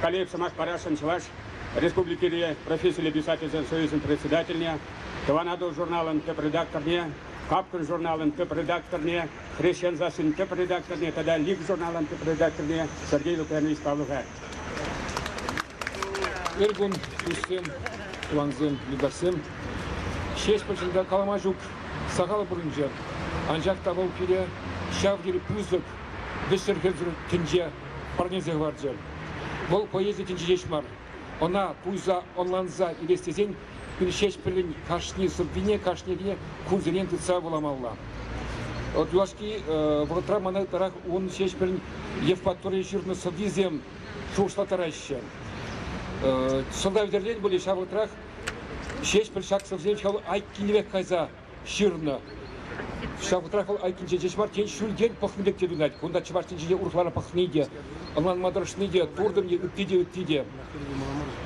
Калиев сӑмах парасшӑн Чӑваш Республикири профессиллӗ писательсен союзӗн председательне, Тӑван Атӑл журналӑн тӗп редакторне, Капкӑн журналӑн тӗп редакторне, Хресчен сассин тӗп редакторне тата Лиг журналӑн тӗп редакторне Сергей Лукьянович Павловар. Ыркун, туссем, тӑвансем, юлташсем. Ҫеҫпӗлшӗнта калама ҫук сахал пурӑнчӗ. Анчах та вӑл пире ҫав тери пысӑк вӗҫсӗр тӗнче парнелсе хӑварчӗ. Вӑл поэзи тӗнчи ҫеҫ мар, ӑна туйса ӑнланса илес тесен Ҫеҫпӗлӗн кашни сӑввине кашнине кунсерен тытса вуламалла. Юлашки вӑхӑтра мана ытларах ун Ҫеҫпӗлӗн Евпаторие ҫырнӑ сӑввисем шухӑшлаттараҫҫӗ. Сӑлтав тӗллен пулӗ ҫав вӑхӑтрах Ҫеҫпӗл ҫак сӑввисем ҫав айккинӗ пек кайса ҫырнӑ. Ҫавӑнтах вӑл айккинче ҫеҫ мар, тен, ҫӳлтен пӑхнӑ пек те туйӑнать. Кунта чӑваш тӗнчине урӑхларах пӑхни те, ӑнланма тӑрӑшни те, туртӑм е ытти те ытти те.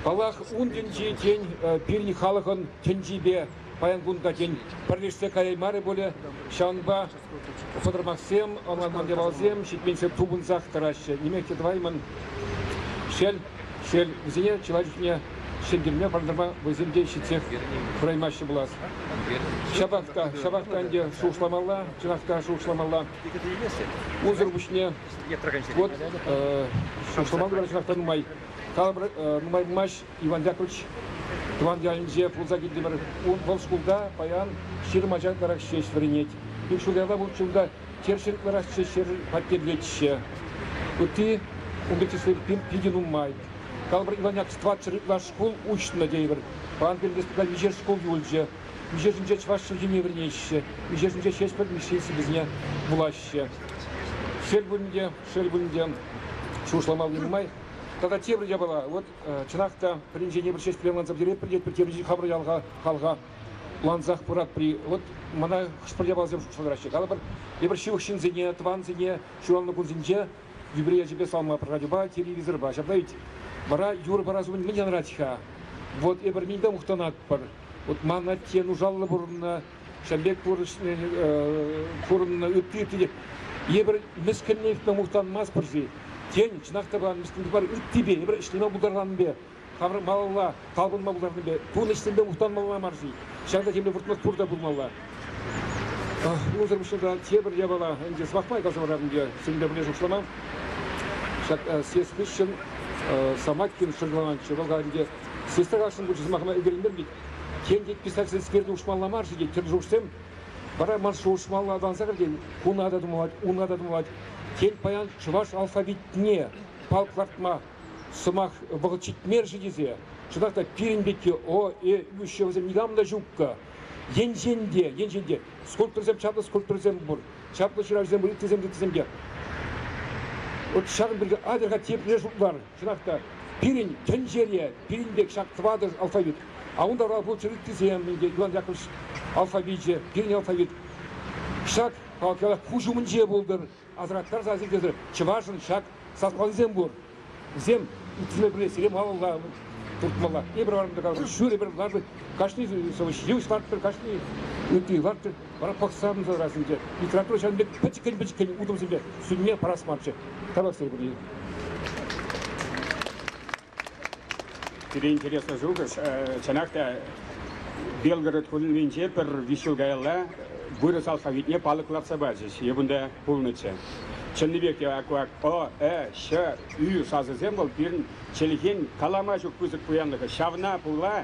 Паллах, ун тӗнчи, тен, пирӗн халӑхӑн тӗнчипе паян кун та, тен, пӗрлешсе каяймарӗ пулӗ. Ҫавӑнпа Сӑтӑрмахсем, ӑмӑртманкалавсем ҫитменше тупӑнсах тӑраҫҫӗ. Нимех те тӑваймӑн. Шел, шел, вӗсене чылай чухне ҫӗнтерме, парӑнтарма вӑйсем те ҫитсех пыраймаҫҫӗ пулас. Ҫапах та, ҫапах та ӗнтӗ шухӑшламалла, чӑнах та шухӑшламалла. Унсӑр пуҫне, вот, шухӑшламан кӑна чӑнах та нумай, калӑпӑр, нумай пулмасть Иван Яковлевич тӑван ялӗнче пулса килтӗмӗр. Вӑл шкулта паян ҫирӗм ача ытларах ҫеҫ вӗренет. Ик ҫул ята вӑл ҫулта черчен ытларах ҫеҫ хваттерлетҫҫӗ. Ытти унти число питӗ нумай. Калӑпӑр, Иван Яковлевич тӑватҫӗр ытлаш шкул уҫнӑ тейӗпӗр. Паян пирӗн республика виҫер шкул юлчӗ. Виҫешӗнче чӑваш чӗлхине вӗренеҫҫӗ. Виҫешӗнче ҫеҫ пӗр миссийӗсем вӗсене вулаҫҫӗ. Шел пулин те, шел пулин те, шухӑшлама нумай. Тата тепӗр япала. Вот Чӑнах та, пӗринчен тепӗр ҫеҫ пӗлем канса пӗтеретпӗр те пӗтернӗҫен хамӑр ялха халха лансах пыратпӑр-и? Вот мана хӑш-пӗр япаласем шутласа тӑраҫҫӗ. Калӑпӑр, эпир ҫывӑх ҫынсене, тӑвансене ҫуралнӑ кунсенче юбилей ячӗпе салма пӑрхатупа, телевизорпа ҫаптарать. Вара юр парас умӗн мӗн янрать-ха? Вот эпир мӗн те мухтанатпӑр. Вот ман атте нушаллӑ пурӑннӑ Ҫавӑн пек пурӑннӑ ытти те евӗр мӗскӗнне ыйтма мухтанмастпӑр-ши? Тен, чӑнах та пулан мӗскӗн мар ыттипе евӗр ӗҫлеме пултарманнипе, тавра малалла талпӑнма пултарнипе, пулнӑ ӗҫсемпе мухтанмалла мар-ши? Ҫакна темле выртмах пур та пулмалла. Унсӑр пуҫне та тепӗр япала ӗнтӗ сӑмахпа каласа парам сирӗнпе пӗрле шутлама. Ҫак съезд хыҫҫӑн Самакин шӑрҫаланчӗ. Вӑл ӗнтӗ съезда кассӑн пулчӗ сӑмахӑма ӗлкӗреймерӗн Тен, тет писательскерте уҫмалла мар-ши тет тӗршушсем. Вара ман шухӑшмалла аталанса кӗртен куна та тумлать, уна та тумлать. Тен, паян чӑваш алфавитне палк лартма сӑмах вӑхӑт ҫитмер-ши тесе. Чӑнах та пирӗн пекки О, Э, Ю ҫывӑсем никам та ҫукка. Енчен те, енчен те скульпторсем чаплӑ скульпторсем пур, чаплӑ ҫыравҫӑсем, ылттисем, ылттисем те. Вот ҫакӑн пирки адерха тепле шутлар. Чӑнах та, пирӗн тӗнчере пирӗн пек ҫак тӑватӑ алфавит. А унта лучшие ыттисем инке Иван Яковлевич алфавичӗ, пирӗн алфавит. Ҫак палӑкра куҫ умӗнче пултӑр, асӑрхаттарса сиртесӗр чӑвашӑн ҫак саслансем пур. Вӗсем ыттисене пӗле сире малалла туртмалла. Эпир вара ҫӳрӗпӗр лартӑр, кашни сӑвӑҫ йывӑҫ лартӑр, кашни ытти лартӑр. Пӑхсан сӑрасенче литература ҫавӑн пек пӗчӗккӗн-пӗчӗккӗн утӑмсемпе сӳнме парас марччӗ. Тавлаштар пулин. Пире интереслӗ шухӑш. Чӑнах та Белгород хулинче пӗр виҫ ҫул каялла вырӑс алфавитне палӑк лартса пачӗҫ. Эп унта пулнӑччӗ. Чӑннипех те аквак ӑ, ӗ, ҫ, ӳ сасӑсем вӑл пирӗн чӗлхен калама ҫук пысӑк пуянлӑхӗ. Ҫавна пула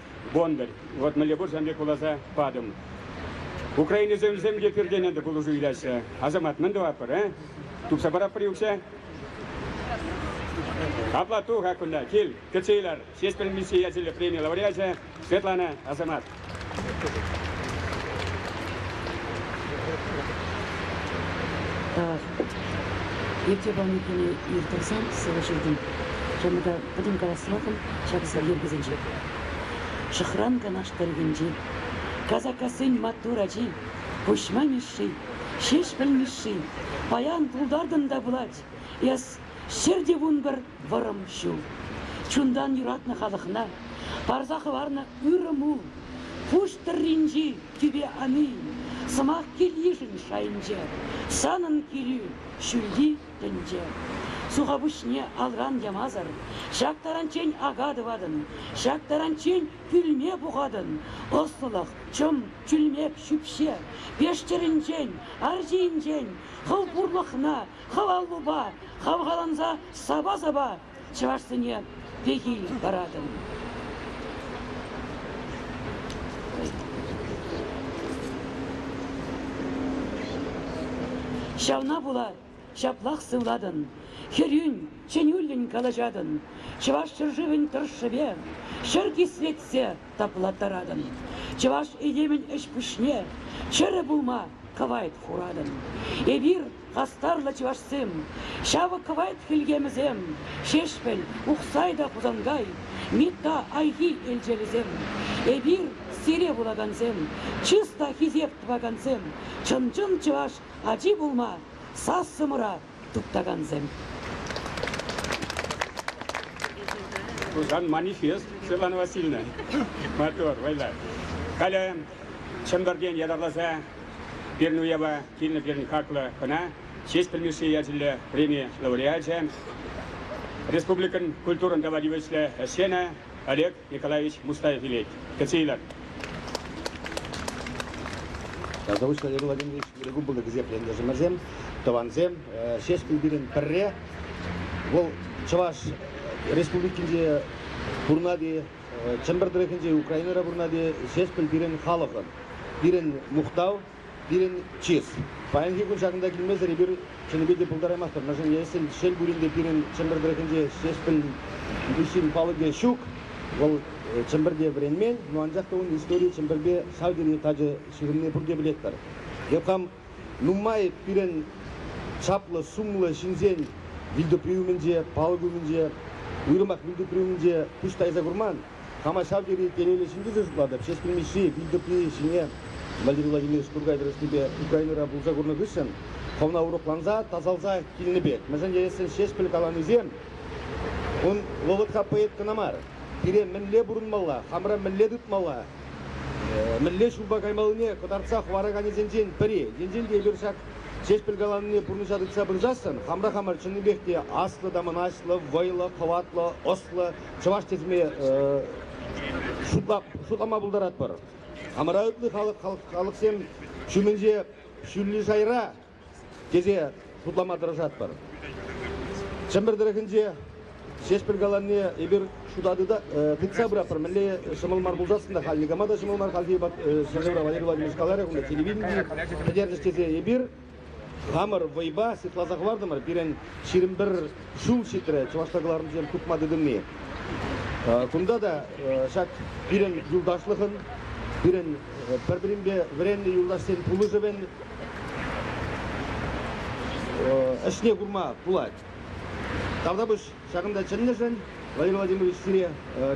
Бондарь. Вот мӗнле пур сан пек куласа патӑм. Украинӑсем вӗсем те пӳртене те пулӑшу илаҫҫӗ. Асамат мӗн тӑватпӑр, э? Тупса параппӑр-и укҫа? Апла туха кунта, кил, кӗтсе илар. Ҫеҫпӗл Мисси ячӗллӗ преми лауреачӗ Светлана Асамат. Ертӳ пулнипене ирттерсен сывӑ ҫитӗм. Чӑмӑра пӗтӗм каласлӑхӑм ҫаксен йӗркисенче. Шӑхран Канаш тӑрӑхӗнчи Казаккассин маттур ачи, Пуҫма Мишши, Ҫеҫпӗл Мишши, паян пултартӑм та пулать. Эс ҫӗр те вун пӗр вӑрӑм ҫул. Чунтан юратнӑ халӑхна парса хӑварнӑ ырӑ мул. Пуҫ тӑрринчи Киве ани, сӑмах кил-йышӗн шайӗнче, санӑн килӳ, ҫӳлти тӗнче. Сухапуҫне алран ямасӑр ҫак таранччен ака тӑватӑн, ҫак таранччен кӳлме пухатӑн. Ӑслӑлӑх, чӑм, чӳлмек ҫӳпҫе веш чӗринчен, ар ҫийӗнчен хӑв пурлӑхна хӑв аллупа хавхаланса сапа-сапа чӑвашсене пехил паратӑн. Ҫавна пула ҫаплах сывлатӑн, хӗрӳн, чӗнӳллӗн калаҫатӑн, чӑваш ҫӗршывӗн тӑршшӗпе ҫӗр кислетсе таплаттаратӑн. Чӑваш этемӗн ӗҫ-пуҫне чӗрӗ пулма кӑвайт хуратӑн. Эпир, хастарлӑ чӑвашсем, ҫавӑ кӑвайт хӗлхемӗсем, Ҫеҫпӗл, Ухсай та Хусанкай, Митта Айхи элчелӗсем, эпир, сире вулакансем, чыс та хисеп тӑвакансем, чӑн-чӑн чӑваш ачи пулма сассӑмӑра Туптакансем. Хусан манифест, Светлана Васильевна, мотор, вӑйлӑ. Халӗ Чӗмпӗртен ятарласа пирӗн уява килнӗ пирӗн хаклӑ хӑна Честь пӗлмешли ячӗллӗ преми лауреачӗ, республикӑн культурӑн тава тивӗҫлӗ ӗҫченӗ Олег Николаевич Мустаев илет. Кӗтсе илер. Заочно Владимирович Григубова гезеплентӑшӑмӑрсем, тӑвансем, Ҫеҫпӗл пирӗн пӗрре. Вӑл Чӑваш Республикинче пурӑнать-и, Чӗмпӗр тӑрӑхӗнче Украинӑра пурӑнать-и, Ҫеҫпӗл пирӗн халӑхӑн, пирӗн мухтав. Пирӗн чыс. Паянхи кун ҫакӑнта килмесӗр эпир чӑннипе те пултараймастпӑр. Мӗншӗн ешӗл шел пулин те пирӗн Чӗмпӗр тӑрӑхӗнче ҫеҫпӗл виҫин палӑкӗ ҫук. Вӑл Чӗмпӗрте вӗренмен, но анчах та ун историйӗ Чӗмпӗрпе ҫав тери тачӑ ҫыхӑнни пурте пӗлетпӗр. Йӑх хам нумай пирӗн чаплӑ сумлӑ ҫынсен вилтупри умӗнче, палӑк умӗнче, уйрӑмах вилтупри умӗнче пуҫ тайса курман. Хама ҫав тери телейлӗ ҫынтисем шутлатӑп. Ҫеҫпӗл Мишши пил тӑпри ҫине Владимир Владимирович Туркай тӑрӑшнипе Украинӑра пулӑша курнӑ хыҫҫӑн хӑвна урӑхланса, тасалса килнӗ пек. Мӗншӗн теесшӗн Ҫеҫпӗл каланисем ун вӑхӑтра поэт кӑна мар. Пире мӗнле пурӑнмалла, хамӑра мӗнле тытмалла, мӗнле ҫулпа каймаллине кӑтартса хӑвараканӗсенчен пӗри. Енчен те эпир ҫак Ҫеҫпӗл каланине пурнӑҫа тытса пырсассӑн хамӑра хамӑр чӑннипех те аслӑ та мӑнаҫлӑ, вӑйлӑ, хӑватлӑ, ӑслӑ, чӑваш тесме шутла, шутлама пултаратпӑр. Амӑраутлӑ халӑх, халӑх, халӑхсем ҫумӗнче ҫӳллӗ шайра тесе шутлама тӑрӑшатпӑр. Чӗмпӗр тӑрӑхӗнче Ҫеҫпӗл каланне эпир шута тыта, э, тытса пыратпӑр. Мӗнле ҫӑмӑл мар пулсассӑн та халь никама та ҫӑмӑл мар, хальхи вӑхӑт э, ҫӗршывра Валерий Владимирович каларӗ, кунта телевидени пӗтерчӗҫ тесе эпир Хамӑр вӑйпа сыхласа хӑвартӑмӑр. Пирӗн ҫирӗм пӗр ҫул ҫитрӗ чӑвашла кӑларӑмсем хупма тытӑнни. Кунта та ҫак пирӗн юлташлӑхӑн, пирӗн пӗр-пӗринпе вӗреннӗ юлташсен пулӑшӑвӗн ӗҫне курма пулать. Тавтапуҫ Ҫакӑнта чӗннӗшӗн Владимир Владимирович сире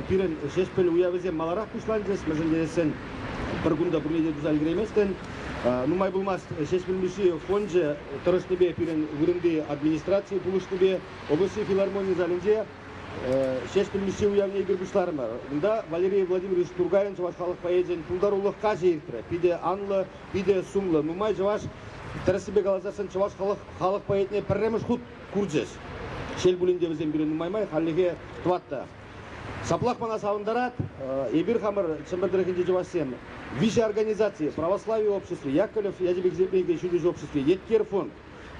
пирӗн Ҫеҫпӗл уявӗсем маларах пуҫланчӗҫ, мӗншӗн тесен пӗр кун та пурне те туса ӗлкӗрейместӗн. Нумай пулмасть Ҫеҫпӗл Мишши фончӗ тӑрӑшнипе пирӗн вырӑнти администраци пулӑшнипе облаҫри филармони залӗнче Ҫеҫпӗл Мишши уявне эпир пуҫларӑмӑр. Унта Валерий Владимирович Тургайӑн чӑваш халӑх поэчӗн пултарулӑх каҫӗ иртрӗ. Питӗ анлӑ, питӗ сумлӑ, нумай чӑваш Тӗрӗссипе каласан, чӑваш халӑх халӑх поэтне пӗрремӗш хут курчӗҫ. Шел пулин те, вӗсем пирӗн нумай май хальлӗхе тӑват та. Ҫаплах мана савӑнтарать, эпир хамӑр Чӗмпӗр тӑрӑхӗнчи чӑвашсем виҫӗ организаци, Православи обществи, Яковлев ячӗпе ҫӳллӗш обществи, Еткер фонд,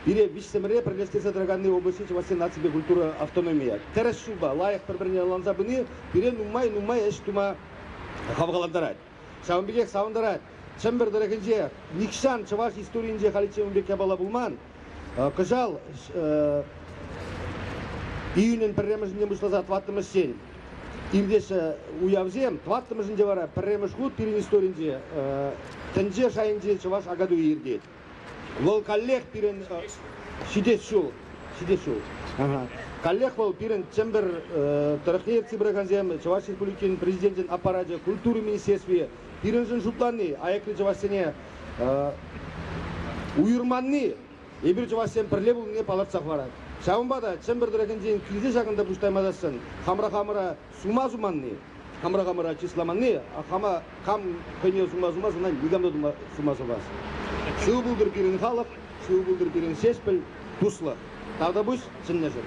пире виҫсӗмӗре пӗрлештерсе тӑраканни облаҫри чӑвашсен наципе культура автономийӗ. Тӗрӗс ҫулпа лайӑх пӗр-пӗрне ӑнланса пыни пире нумай-нумай ӗҫ тума хавхалантарать. Ҫавӑн пекех савӑнтарать, Чӗмпӗр тӑрӑхӗнче нихҫан чӑваш историйӗнче халиччен ун пек япала пулман. Кӑҫал июнӗн пӗрремӗшӗнче пуҫласа тӑваттӑмӗш ҫул иртеҫҫӗ уявсем. Тӑваттӑмӗшӗнче вара пӗрремӗш хут пирӗн историнче тӗнче шайӗнче чӑваш акатуйӗ иртет. Вӑл каллех пирӗн ҫитес ҫул ҫитес ҫул. Каллех вӑл пирӗн Чӗмпӗр тӑрӑхне ертсе пыракансем Чӑваш Республикин Президенчӗн аппарачӗ культура министерстви пирӗншӗн шутланни, аякри чӑвашсене уйӑрманни эпир чӑвашсем пӗрле пулнине палӑртса хӑварать. Ҫавӑнпа та Чӗмпӗр тӑрӑхӗнчен килсе ҫакӑнта пуҫ таймасассӑн хамӑра хамӑра Сума суманни, хамӑра хамӑра чысламанни, хама кам хӑйне сума сумас, ӑна никам та тума, сума сумас. Шыв пултӑр пирӗн халӑх, шыв пултӑр пирӗн ҫеҫпӗл, туслӑх. Тавтапуҫ чӑннӑшӑн.